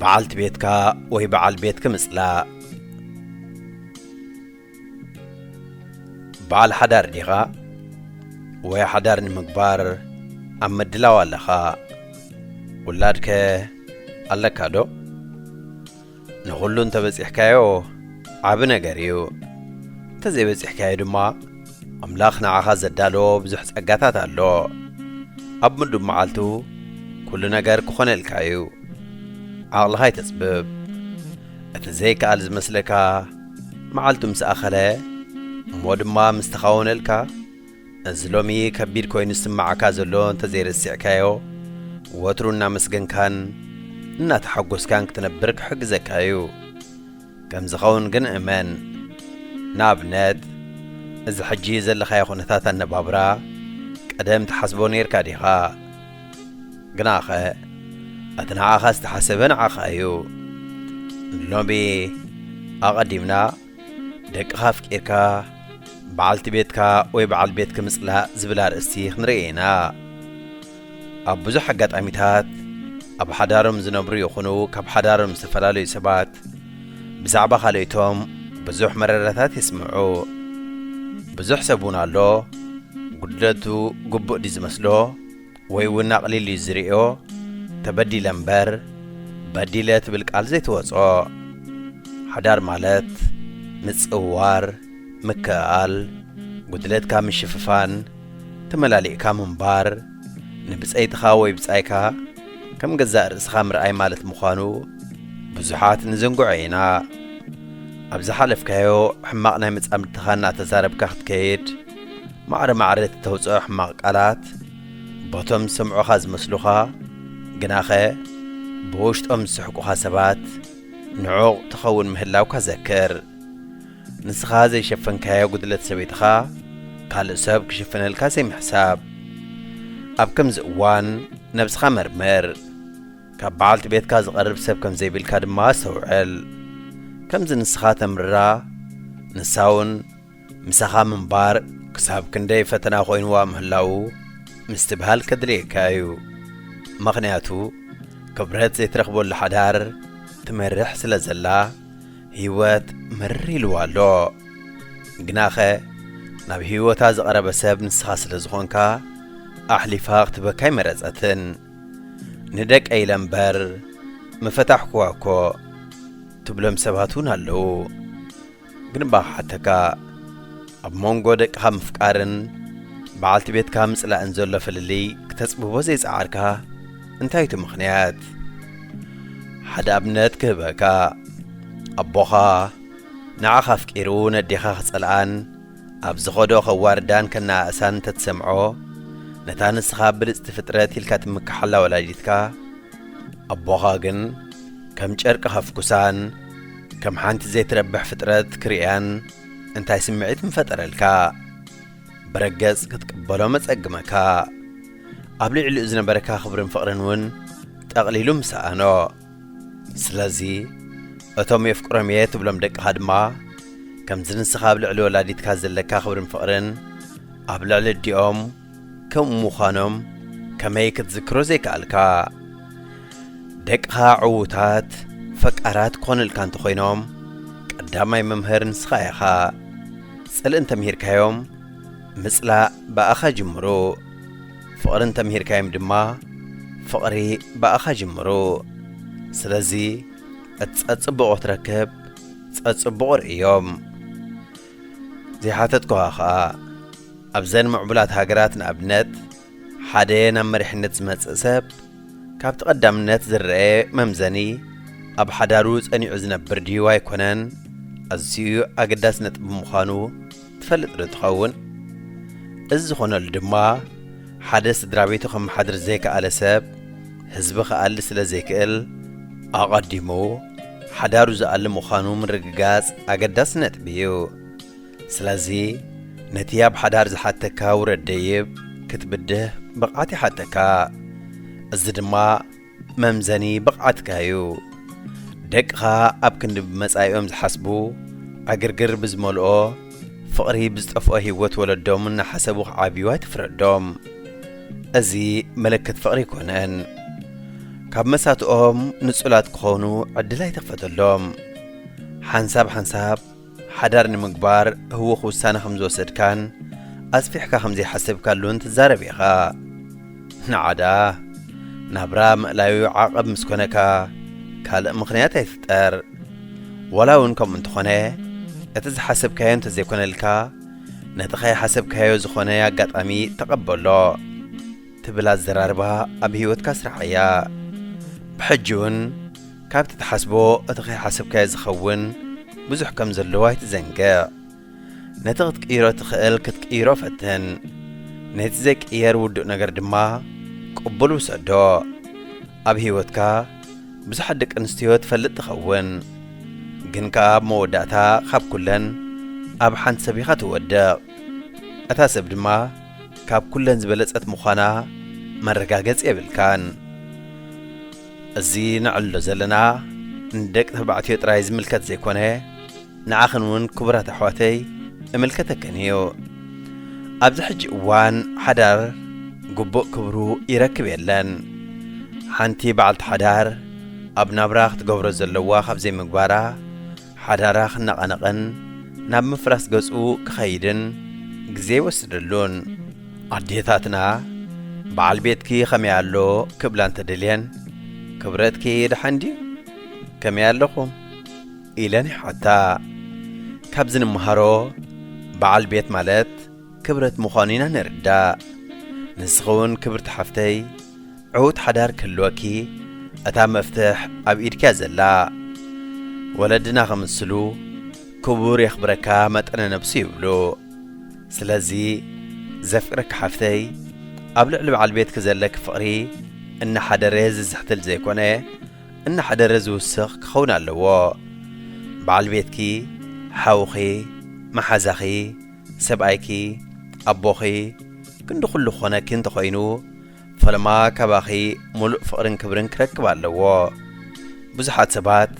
በዓልቲ ቤትካ ወይ በዓል ቤትኪ ምጽላእ። በዓል ሓዳር ዲኻ ወይ ሓዳር ንምግባር ኣብ ምድላው ኣለኻ? ውላድከ ኣለካዶ? ንኹሉ እንተበጺሕካዮ ዓቢ ነገር እዩ፣ እንተዘይበጺሕካዮ ድማ፣ ኣምላኽ ንዓኻ ዘዳለዎ ብዙሕ ጸጋታት ኣሎ። ኣብ ምዱብ መዓልቱ ኩሉ ነገር ክኾነልካ እዩ። ዓቕልኻ ኣይተጽብብ። እቲ ዘይከኣል ዝመስለካ መዓልቱ ምስ ኣኸለ እሞ ድማ ምስ ተኻወነልካ፣ እዚ ሎሚ ከቢድ ኮይኑ ዝስምዓካ ዘሎ እንተ ዘይረሲዕካዮ ወትሩ እናመስገንካን እናተሓጎስካን ክትነብር ክሕግዘካ እዩ። ከም ዝኸውን ግን እመን። ንኣብነት፣ እዚ ሕጂ ዘለኻዮ ዅነታት ኣነባብራ፣ ቀደም ትሓስቦ ኔርካ ዲኻ? ግናኸ፣ እቲ ንዓኻ ዝተሓሰበ ንዓኻ እዩ። ንሎሚ፣ ኣቐዲምና ደቅኻ ኣፍቂርካ፣ በዓልቲ ቤትካ ወይ በዓል ቤትኪ ምጽላእ ዝብል ኣርእስቲ ኽንርኢ ኢና። ኣብ ብዙሕ ኣጋጣሚታት ኣብ ሓዳሮም ዝነብሩ ይኹኑ ካብ ሓዳሮም ዝተፈላለዩ ሰባት ብዛዕባ ካልኦቶም ብዙሕ መረረታት የስምዑ። ብዙሕ ሰብ እውን ኣሎ ጉድለቱ ግቡእ ድዩ ዝመስሎ ወይ እውን ኣቕሊሉ እዩ ዝርእዮ። ተበዲለ እምበር በዲለ ትብል ቃል ዘይትወጾ። ሓዳር ማለት ምጽውዋር፣ ምክእኣል፣ ጉድለትካ ምሽፍፋን፣ ተመላሊእካ ምንባር ንብጸይትኻ ወይ ብጻይካ ከም ገዛእ ርእስኻ ምርኣይ ማለት ምዃኑ ብዙሓት ንዝንግዖ ኢና። ኣብ ዝሓለፍካዮ ሕማቕ ናይ መጻምድትኻ እናተዛረብካ ክትከይድ፣ ማዕረ ማዕረ እቲ ተውጽኦ ሕማቕ ቃላት በቶም ዝሰምዑኻ ዝመስሉኻ ግናኸ ብውሽጦም ዝስሕቁኻ ሰባት ንዑቕ ትኸውን ምህላውካ ዘክር። ንስኻ ዘይሸፈንካዮ ጉድለት ሰበይትኻ ካልእ ሰብ ክሽፍነልካ ዘይምሕሳብ። ኣብ ከምዚ እዋን ነብስኻ መርምር። ካብ በዓልቲ ቤትካ ዝቐርብ ሰብ ከም ዘይብልካ ድማ ኣስተውዕል። ከምዚ ንስኻ ተምርራ ንሳውን ምሳኻ ምንባር ክሳብ ክንደይ ፈተና ኮይንዋ ምህላዉ ምስትብሃል ከድልየካ እዩ። ምኽንያቱ ክብረት ዘይትረኽበሉ ሓዳር ትመርሕ ስለ ዘላ። ህይወት ምርር ኢልዋ ኣሎ። ግናኸ ናብ ህይወታ ዝቐረበ ሰብ ንስኻ ስለ ዝኾንካ ኣሕሊፋ ክትበካ ኣይመረጸትን። ንደቀይ ኢለ እምበር ምፈታሕኩዋ እኮ ትብሎም ሰባት እውን ኣለዉ። ግን እባ ክሓተካ ኣብ መንጎ ደቅኻ ምፍቃርን በዓልቲ ቤትካ ምጽላእን ዘሎ ፍልልይ ክተጽብቦ ዘይጸዓርካ? እንታይ እቲ ምኽንያት? ሓደ ኣብነት ክህበካ ኣቦኻ ንዓኻ ኣፍቂሩ ነዴኻ ክጸልኣን ኣብ ዝኸዶ ከዋርዳን ከነኣእሳን እንተትሰምዖ ነታ ንስኻ ብልጽቲ ፍጥረት ኢልካ ትምክሓላ ወላዲትካ ኣቦኻ ግን ከም ጨርቂ ከፍኩሳን ከም ሓንቲ ዘይትረብሕ ፍጥረት ክርእያን እንታይ ስምዒት ምፈጠረልካ? ብረገጽ ክትቅበሎ መጸግመካ። ኣብ ልዕሊኡ ዝነበረካ ክብርን ፍቕርን እውን ጠቕሊሉ ምስ ሰኣኖ። ስለዚ እቶም የፍቅሮም እየ ትብሎም ደቅኻ ድማ ከምዚ ንስኻ ኣብ ልዕሊ ወላዲትካ ዘለካ ክብርን ፍቕርን ኣብ ልዕሊ ኣዲኦም ከምኡ ምዃኖም ከመይ ክትዝክሮ ዘይከኣልካ? ደቅኻ ዕዉታት ፈቃራት ክኾኑልካ እንተኾይኖም ቀዳማይ መምህር ንስኻ ኢኻ። ጽልኢ እንተምሂርካዮም ምጽላእ ብኣኻ ጅምሩ፣ ፍቕሪ እንተምሂርካዮም ድማ ፍቕሪ ብኣኻ ጅምሩ። ስለዚ እቲ ጸጽቡቕ ክትረክብ ጸጽቡቕ ርእዮም። ዘይሓተትኩኻ ኸኣ ኣብዘን ምዕቡላት ሃገራት ንኣብነት ሓደ ናብ መሪሕነት ዝመጽእ ሰብ ካብቲ ቀዳምነት ዝረኣ መምዘኒ ኣብ ሓዳሩ ጸኒዑ ዝነብር ድዩ ኣይኮነን ኣዝዩ ኣገዳሲ ነጥቢ ምዃኑ ትፈልጥ ዶ ትኸውን? እዚ ዝኾነሉ ድማ ሓደ ስድራ ቤቱ ከመሓድር ዘይከኣለ ሰብ ህዝቢ ክኣሊ ስለ ዘይክእል ኣቐዲሙ ሓዳሩ ዝኣሊ ምዃኑ ምርግጋጽ ኣገዳሲ ነጥቢ እዩ። ስለዚ ነቲ ኣብ ሓዳር ዝሓተካ ውረድ ደይብ ክትብድህ ብቕዓት ይሓተካ። እዚ ድማ መምዘኒ ብቕዓትካ እዩ። ደቅኻ ኣብ ክንዲ ብመጻኢኦም ዝሓስቡ፣ ዕግርግር ብዝመልኦ፣ ፍቕሪ ብዝጠፍኦ ህይወት ወለዶም እናሓሰቡ ክዓብዩ ኣይትፍረዶም። እዚ ምልክት ፍቕሪ ኣይኮነን። ካብ መሳትኦም ንጹላት ክኾኑ ዕድል ኣይትኽፈተሎም። ሓንሳብ ሓንሳብ ሓዳር ንምግባር ህዉኽ ውሳነ ከም ዝወሰድካን ኣስፊሕካ ከም ዘይሓሰብካሉን ትዛረብ ኢኻ። ንዓዳ ናብራ ምእላዩ ዓቐብ ምስ ኮነካ ካልእ ምኽንያት ኣይፍጠር። ዋላ እውን ከምኡ እንተኾነ እቲ ዝሓሰብካዮ እንተዘይኮነልካ ነቲ ከይሓሰብካዮ ዝኾነ ኣጋጣሚ ተቐበሎ። ትብል ኣዘራርባ ኣብ ህይወትካ ስራሓ እያ። ብሕጂ እውን ካብቲ ትሓስቦ እቲ ከይሓሰብካዮ ዝኸውን ብዙሕ ከም ዘለዎ ኣይትዘንግዕ። ነቲ ክትቅይሮ እትኽእል ክትቅይሮ ፈትን። ነቲ ዘይቅየር ውዱእ ነገር ድማ ቅቡል ውሰዶ። ኣብ ህይወትካ ብዙሓት ደቂ ኣንስትዮ ትፈልጥ ትኸውን። ግን ከኣ ኣብ መወዳእታ ካብ ኩለን ኣብ ሓንቲ ሰብ ኢኻ ትወድቕ። እታ ሰብ ድማ ካብ ኩለን ዝበለጸት ምዃና መረጋገጺ የብልካን። እዚ ነዕልሎ ዘለና ንደቂ ተባዕትዮ ጥራይ ዝምልከት ዘይኮነ ንዓኽን እውን ክቡራት ኣሕዋተይ እምልከተክን እዩ። ኣብዚ ሕጂ እዋን ሓዳር ግቡእ ክብሩ ይረክብ የለን። ሓንቲ በዓልቲ ሓዳር ኣብ ናብራ ክትገብሮ ዘለዋ ካብ ዘይምግባራ፣ ሓዳራ ክነቓነቕን ናብ ምፍራስ ገጹ ክኸይድን ግዜ ኣይወስደሉን። ኣዴታትና በዓል ቤትኪ ከመይ ኣሎ ክብላ እንተደልየን ክብረትኪ ደሓን ድዩ? ከመይ ኣለኹም? ኢለን ይሓታ። ካብዚ ንምሃሮ በዓል ቤት ማለት ክብረት ምዃኑ ኢና ንርዳእ። ንስኺ እውን ክብርቲ ሓፍተይ ዕዉት ሓዳር ክህልወኪ እታ መፍትሕ ኣብ ኢድኪ እያ ዘላ። ወለድና ክምስሉ ክቡር የኽብረካ መጠነ ነብሱ ይብሉ። ስለዚ ዘፍቅረኪ ሓፍተይ ኣብ ልዕሊ በዓል ቤትኪ ዘለኪ ፍቕሪ እናሓደረ ዝዝሕትል ዘይኮነ እናሓደረ ዝውስኽ ክኸውን ኣለዎ። በዓል ቤትኪ፣ ሓውኺ፣ መሓዛኺ፣ ሰብኣይኪ፣ ኣቦኺ፣ ክንዲ ኩሉ ክኾነኪ እንተኾይኑ፣ ፈለማ ካባኺ ሙሉእ ፍቕርን ክብርን ክረክብ ኣለዎ። ብዙሓት ሰባት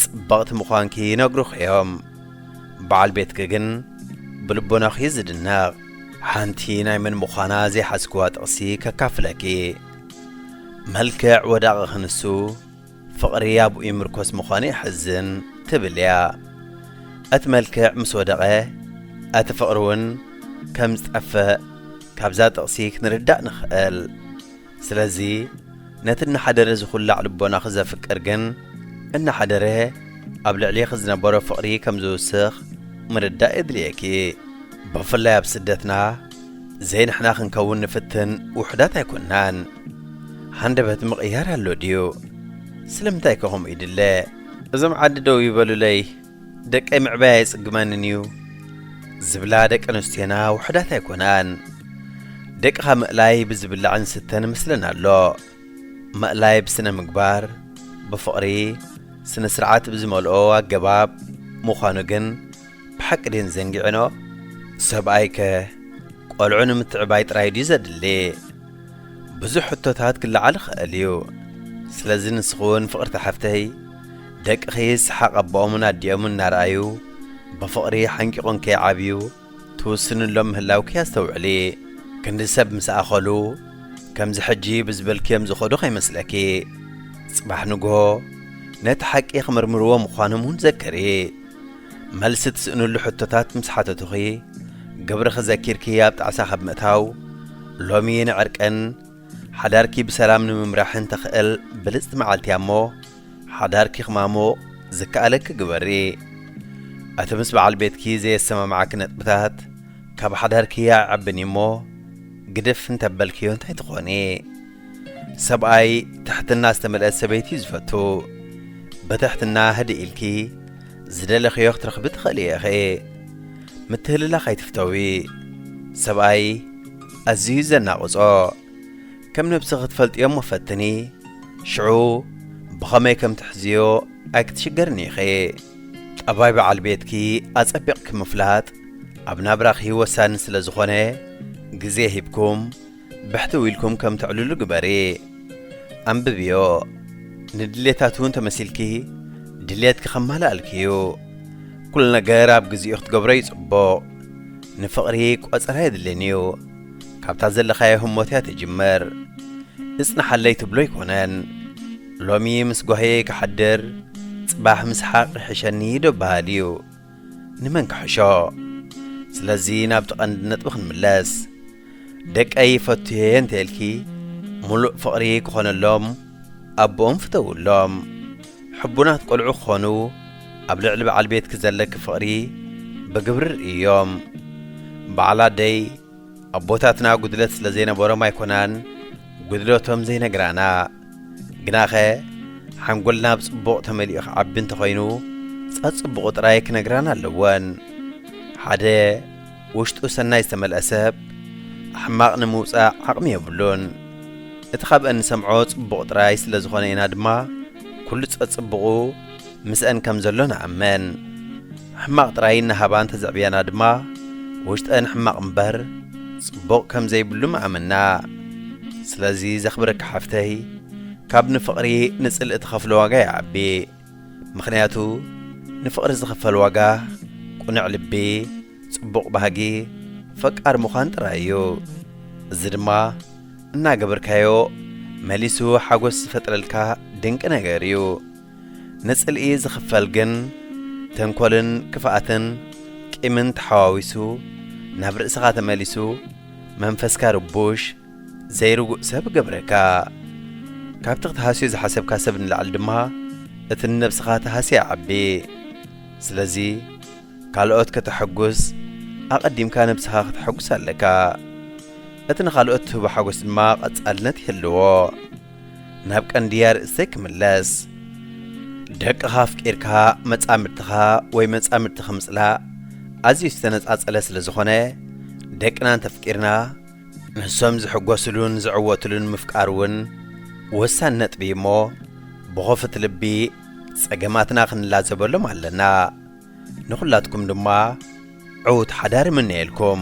ጽብቕቲ ምዃንኪ ይነግሩኺ እዮም። በዓል ቤትኪ ግን ብልቦናኺ እዩ ዝድነቕ። ሓንቲ ናይ መን ምዃና ዘይሓዝክዋ ጥቕሲ ከካፍለኪ። መልክዕ ወዳቒ ክንሱ ፍቕሪ ኣብኡ ይምርኮስ ምዃኑ የሕዝን ትብል እያ። እቲ መልክዕ ምስ ወደቐ እቲ ፍቕሪ እውን ከም ዝጠፍእ ካብዛ ጥቕሲ ክንርዳእ ንኽእል። ስለዚ ነቲ እናሓደረ ዝኹላዕ ልቦናኺ ዘፍቅር ግን እናሓደረ ኣብ ልዕሌኺ ዝነበሮ ፍቕሪ ከም ዝውስኽ ምርዳእ የድልየኪ። ብፍላይ ኣብ ስደትና ዘይንሕና ክንከውን ንፍትን ውሑዳት ኣይኮናን ሃንደበት ምቕያር ኣሎ ድዩ ስለምንታይ ከ ከምኡ ይድለ እዞም ዓዲ ደው ይበሉለይ ደቀይ ምዕባይ ኣይጽግመንን እዩ ዝብላ ደቂ ኣንስትዮና ውሑዳት ኣይኮናን ደቅኻ ምእላይ ብዝብላዕን ስተን ምስለን ኣሎ ምእላይ ብስነ ምግባር ብፍቕሪ ስነ ስርዓት ብዝመልኦ ኣገባብ ምዃኑ ግን ብሓቂ ድየን ዘንጊዕንኦ? ሰብኣይ ከ ቆልዑ ንምትዕባይ ጥራይ ድዩ ዘድሊ? ብዙሕ ሕቶታት ክለዓል ይኸእል እዩ። ስለዚ ንስኺ እውን ፍቕርቲ ሓፍተይ፣ ደቅኺ ሰሓቕ ኣቦኦምን ኣዲኦምን እናረኣዩ ብፍቕሪ ሓንቂቑን ከይዓብዩ ትውስንሎም ምህላውኪ ኣስተውዕሊ። ክንዲ ሰብ ምስ ኣኸሉ ከምዚ ሕጂ ብዝበልክዮም ዝኸዱ ከይመስለኪ። ጽባሕ ንግሆ ነቲ ሓቂ ክምርምርዎ ምዃኖም እውን ዘክሪ። መልሲ ትስእንሉ ሕቶታት ምስ ሓተቱኺ፣ ግብርኺ ዘኪርኪ ኣብ ጣዕሳ ካብ ምእታው፣ ሎሚ ንዕርቅን ሓዳርኪ ብሰላም ንምምራሕን ተኽእል ብልጽቲ መዓልቲ እያ እሞ፣ ሓዳርኪ ክማሙቕ ዝከኣለኪ ግበሪ። እቲ ምስ በዓል ቤትኪ ዘየሰማምዓኪ ነጥብታት፣ ካብ ሓዳርኪ ኣይዓብን እዩ እሞ፣ ግድፍ እንተበልክዮ እንታይ ትኾኒ? ሰብኣይ ትሕትና ዝተመልአት ሰበይቲ እዩ ዝፈቱ። ብትሕትና ህድእ ኢልኪ፣ ዝደለኽዮ ክትረኽቢ ትኽእሊ ኢኺ። ምትህልላኽ ኣይትፍተዊ። ሰብኣይ ኣዝዩ ዘናቕጾ። ከም ነብሲ ክትፈልጥዮ እሞ ፈትኒ። ሽዑ ብኸመይ ከም ትሕዝዮ ኣይክትሽገርን ኢኺ። ጠባይ በዓል ቤትኪ ኣጸቢቕኪ ምፍላጥ ኣብ ናብራኺ ወሳኒ ስለ ዝኾነ ግዜ ሂብኩም ብሕትው ኢልኩም ከም ተዕልሉ ግበሪ። ኣንብብዮ። ንድሌታቱ'ውን ተመሲልኪ ድሌትኪ ከማልኣልኪ'ዩ። ኩሉ ነገር ኣብ ግዜኡ ክትገብሮ'ዩ ጽቡቕ። ንፍቕሪ ቆጸራ የድልን'ዩ። ካብታ ዘለኻዮ ህሞት'ያ ትጅምር። እጽንሓለይ ትብሎ ኣይኮነን። ሎሚ ምስ ጓህየይ ክሓድር ጽባሕ ምስሓቕ ይሕሸኒ ዶ በሃል'ዩ። ንመን ክሕሾ ስለዚ ናብቲ ቀንዲ ነጥቢ ክንምለስ ደቀይ ፈቱየ እንተልኪ ሙሉእ ፍቕሪ ክኾነሎም ኣቦኦም ፍተውሎም ሕቡናት ቆልዑ ክኾኑ ኣብ ልዕሊ በዓል ቤትኪ ዘለኪ ፍቕሪ ብግብሪ ርእዮም በዓል ኣደይ ኣቦታትና ጉድለት ስለ ዘይነበሮም ኣይኮናን ጉድለቶም ዘይነግራና ግናኸ ሓንጎልና ብጽቡቕ ተመሊኡ ክዓቢ እንተኾይኑ ጸጽቡቑ ጥራይ ክነግራና ኣለወን ሓደ ውሽጡ ሰናይ ዝተመልአ ሰብ ሕማቕ ንምውጻእ ዓቕሚ የብሉን እቲ ካብአን ንሰምዖ ጽቡቕ ጥራይ ስለ ዝኾነ ኢና ድማ ኩሉ ጸጽቡቑ ምስኣን ከም ዘሎ ንኣምን። ሕማቕ ጥራይ እናሃባ እንተዘዕብያና ድማ ውሽጠን ሕማቕ እምበር ጽቡቕ ከም ዘይብሉ ምኣመና። ስለዚ ዘኽብረኪ ሓፍተይ ካብ ንፍቕሪ ንጽልኢ ትኸፍሎ ዋጋ ይዓቢ። ምኽንያቱ ንፍቕሪ ዝኽፈል ዋጋ ቁኑዕ ልቢ፣ ጽቡቕ ባህጊ፣ ፈቃር ምዃን ጥራይ እዩ። እዚ ድማ እናገበርካዮ መሊሱ ሓጎስ ዝፈጥረልካ ድንቂ ነገር እዩ። ንጽልኢ ዝኽፈል ግን ተንኮልን ክፍኣትን ቂምን ተሓዋዊሱ ናብ ርእስኻ ተመሊሱ መንፈስካ ርቡሽ ዘይርጉእ ሰብ እገብረካ። ካብቲ ክትሃስዮ ዝሓሰብካ ሰብ ንላዕሊ ድማ እቲ ንነብስኻ ትሃስያ ይዓቢ። ስለዚ ካልኦት ከተሐጉስ ኣቐዲምካ ነብስኻ ከተሐጉስ ኣለካ። እቲ ንኻልኦት ትህቦ ሓጎስ ድማ ቐጻልነት ይህልዎ። ናብ ቀንዲ ኣርእስተይ ክምለስ። ደቅኻ ኣፍቂርካ መጻምድትኻ ወይ መጻምድትኺ ምጽላእ ኣዝዩ ዝተነጻጸለ ስለ ዝኾነ፣ ደቅና እንተፍቂርና ንሶም ዝሕጎስሉን ዝዕወትሉን ምፍቃር እውን ወሳኒ ነጥቢ እዩ እሞ ብኸፉት ልቢ ጸገማትና ክንላዘበሎም ኣለና። ንኹላትኩም ድማ ዕዉት ሓዳር እምነየልኩም።